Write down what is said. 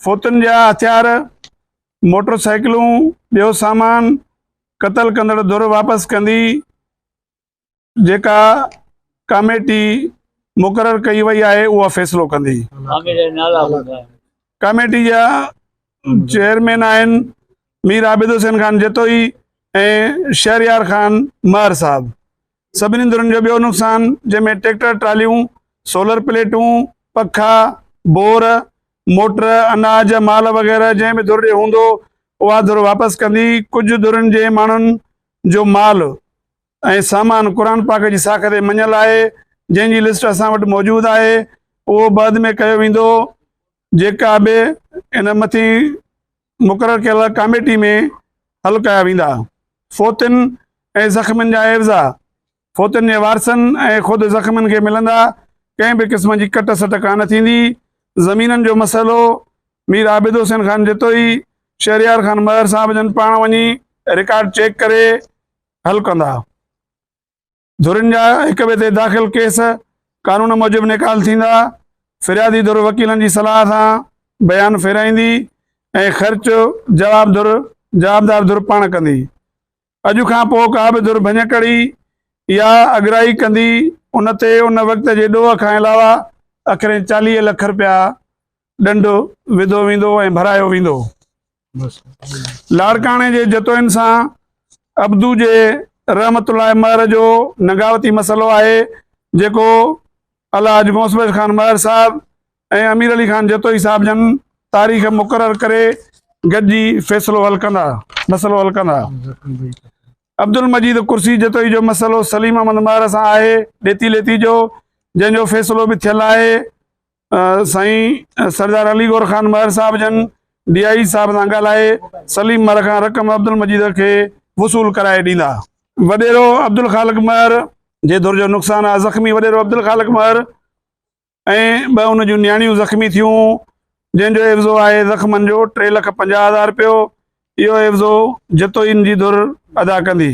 فوتن جا هٿيار، موٽر سائيڪلون، ٻيو سامان قتل ڪندڙ ڌر واپس ڪندي جيڪا ڪاميٽي مقرر ڪئي وئي آهي اها فيصلو ڪندي. ڪاميٽي جا چيئرمين آهن مير عابد حسين خان جتوئي ۽ شهريار خان مهر صاحب. سڀني ڌرين جو ٻيو نقصان جنهن ۾ ٽريڪٽر ٽراليون، سولر پليٽون، پکا، بور، موٽر، اناج، مال وغيره جنهن به ڌر ڏي هوندو اها ڌر واپس ڪندي، ڪجهه ڌرين جي ماڻهن جو مال ۽ سامان قرآن پاڪ جي ساک تي مڃيل آهي جنهن جي لسٽ اسان وٽ موجود آهي اهو بعد ۾ ڪيو ويندو جيڪا به ان مٿين مقرر ڪيل ڪاميٽي ۾ حل ڪيا ويندا. فوتين ۽ زخمين جا عيوضا فوتين جي وارثن ۽ خود زخمين کي ملندا، ڪنهن به قسم جي ڪٽ سٽ ڪانه ٿيندي، زمينن جو مسئلو مير عابد حسين خان جتوئي، شهريار خان مهر صاحب جن پاڻ وڃي رڪارڊ چيڪ ڪري حل ڪندا. ڌرين جا هڪ ٻئي تي داخل ڪيس قانون موجب نيڪال ٿيندا، فريادي ڌر وڪيلن جي صلاح سان بيان ڦيرائيندي ۽ خرچ جواب ڌر، جوابدار ڌر، پاڻ ڪندي. اڄ کان پوء ڪا به ڌر ڀڃڪڙي يا اڳرائي ڪندي ان تي ان وقت جي ڏوهه کان علاوه اکرين چاليهه لک رپيا ڏنڊ وڌو ويندو ۽ ڀرايو ويندو. لاڙڪاڻي جي جتوئين سان ابدو جي رحمت الله مهر جو نگاوتي مسئلو آهي جيڪو الحاج غوث بخش خان مهر صاحب ۽ امير علي خان جتوئي صاحب جن تاريخ مقرر ڪري گڏجي فيصلو حل ڪندا مسئلو حل ڪندا عبدالمجيد ڪرسي جتوئي جو مسئلو سليم احمد مهر سان آهي ڏيتي ليتي جو جنهن جو فيصلو به ٿيل آهي سائين سردار علي گور خان مهر صاحب جن ڊي آء جي صاحب سان ڳالهائي سليم مهر کان رقم عبدالمجيد کي وصول ڪرائي ڏيندا. وڏيرو عبدالخالق مهر جي ڌر جو نقصان آ، زخمي وڏيرو عبدالخالق مهر ۽ ٻه ان جون نياڻيون زخمي ٿيون، جنهن جو عيوضو آهي زخمن جو ٽي لک پنجاهه هزار رپيو، اهو عيوضو جتوئين جي ڌر ادا ڪندي.